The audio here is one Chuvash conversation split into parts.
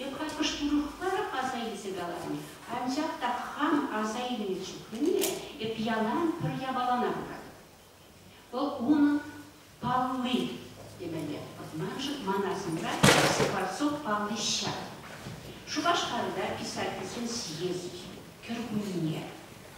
Йӑкӑрткӑш урӑхлар аса илсе каларӑм, анчах та хам аса илнӗ чухне эп ялан пӗр япалана пыратӑп. Вӑл унӑн палли темелле. Маншӑн ман асӑмра Скворцов палли ҫав. Шупашкарта писательсен съезд кӗркунне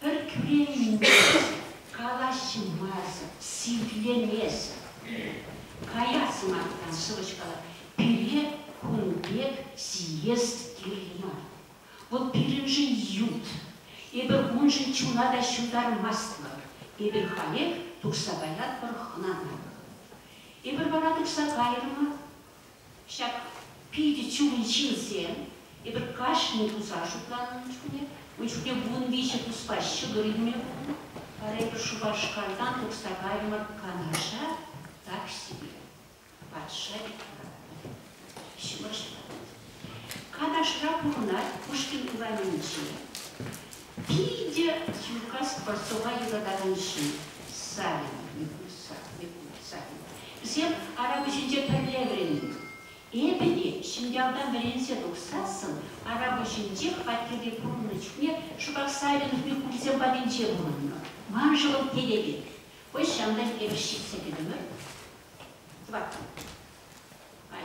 Пӗр кӳренмесӗр калаҫмасӑр, сивлемесӗр каяс маттан сӑвӑҫ-калав пире кун пек сиес кирлӗ мар. Вӑл пирӗншӗн ют, эпир уншӑн чуна та ҫутармастпӑр, эпир халех тухса каятпӑр хӑнана. Эпир вара тухса кайрӑмӑр, Ҫак питӗ чун ҫынсем эпир кашни туса шутланнӑ чухне, ун чухне вун виҫӗ туспа ҫӑкӑр илме пулнӑ, вара эпир Шупашкартан тухса кайрӑмӑр Канаша, таксипе. Патша экранӗ ҫывӑрса. Канашра пурӑнать Пушкин урамӗнче. Питӗ ҫука Скворцова юратакан ҫын, Савин, Микульса, Микульса. Вӗсем Арапуҫӗнче пӗрле вӗреннӗ. Эпӗ те ҫӗньялтан вӗренсе тухсассӑн Арапуҫӗнчех аттепе пурӑннӑ чухне шӑпах Савинов Микульсем патӗнче пурӑннӑ. Ман шӑлӑм телее, хӑй ҫантан эпӗ ҫитсе кӗтӗмӗр. Тӑваттӑн. Ай,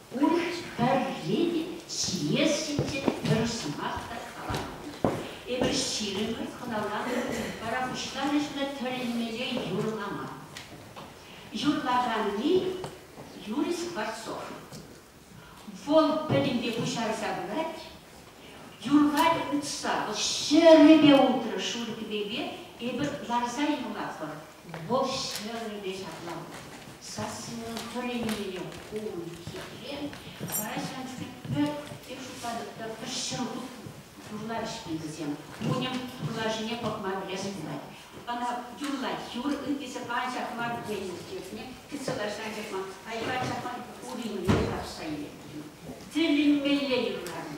Пурте пӗрре те сиес ҫинчен пӗр сӑмах та каламан. Эпир ҫирӗммӗн хӑналанӑ вара куҫран ӗҫме тӗлӗнмелле юрламан. Юрлаканни, Юрий Скворцов. Вӑл пӗтӗмпе пуҫарса пырать. Юрлать утса. Вӑл ҫӗрӗпе утрӗ, шур кӗпепе эпир ларса юрлатпӑр. Вӑл ҫӗрӗпе ҫакланнӑ. Сассинен пӗр эмелӗне хунӑ хитре сарай ҫантӑкӗ пӗр, тем шутлатӑп та, пӗр ҫӗр юрлар ӗҫкен вӗсем. Кунӗм юрлавҫине пӑхма пӗлес пулать. Ӑна юрлать, юр ӳккесе анчах мар тенӗ иртнӗ кӗтсалашне анчах мар, айва анчах мар уринне тарӑхса илет. Тӗлӗнмелле юрланӑ.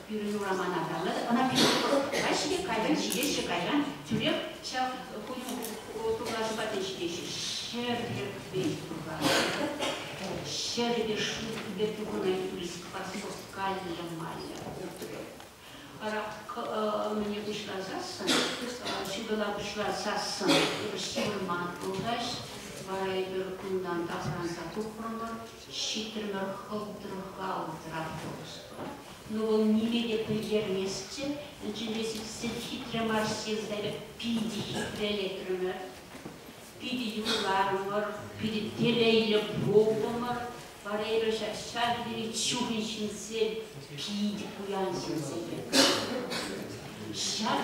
Пирӗн урамана калӑр, ӑна пирӗн тӑрӑх каҫӗ-и, кайӑн, ҫитеҫҫӗ кайран, тӳрех ҫав хурлашу патне ҫитеҫҫӗ. Ҫӗр тӗрӗкрен хурланӑ. Ҫӗрӗ те шӳтлӗ пурӑнать, рискпа соскальлемалла пурпӗрех. Вара мӗне пуҫласассӑн, ҫутӑла пуҫласассӑн ҫывӑрма пултасть. Вара эпир унтан тапранса тухрӑмӑр. ҫитрӗмӗр хӑлтрӑха утрахӑпӑшпа. Ну, вӑл ниме те пӗлтерместчӗ, ӗнчӗпе сиксе ҫитрӗ Марсесӗр, питӗ хитрелетрӗмӗр. Питӗ юрларӑмӑр, питӗ телейлӗ пултӑмӑр. Варейра ҫав тери чухӑн ҫынсем, питӗ пуян ҫынсем. Ҫак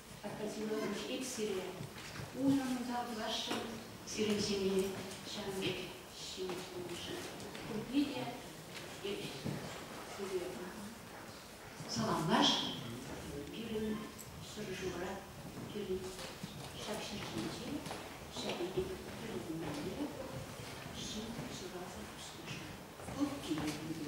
Акатьенович, эп сире унӑн унта пуласшӑн, сирӗн ҫемье ҫавӑн пек ҫине тулнӑшӑн пурне те эп сывлӑха саламлаш, пирӗн шӑршура, пирӗн ҫак ҫӗр ҫинче, ҫак эпир пӗрлешмелле ҫын шыраса ӳснӗшӗн. Туп килет пире.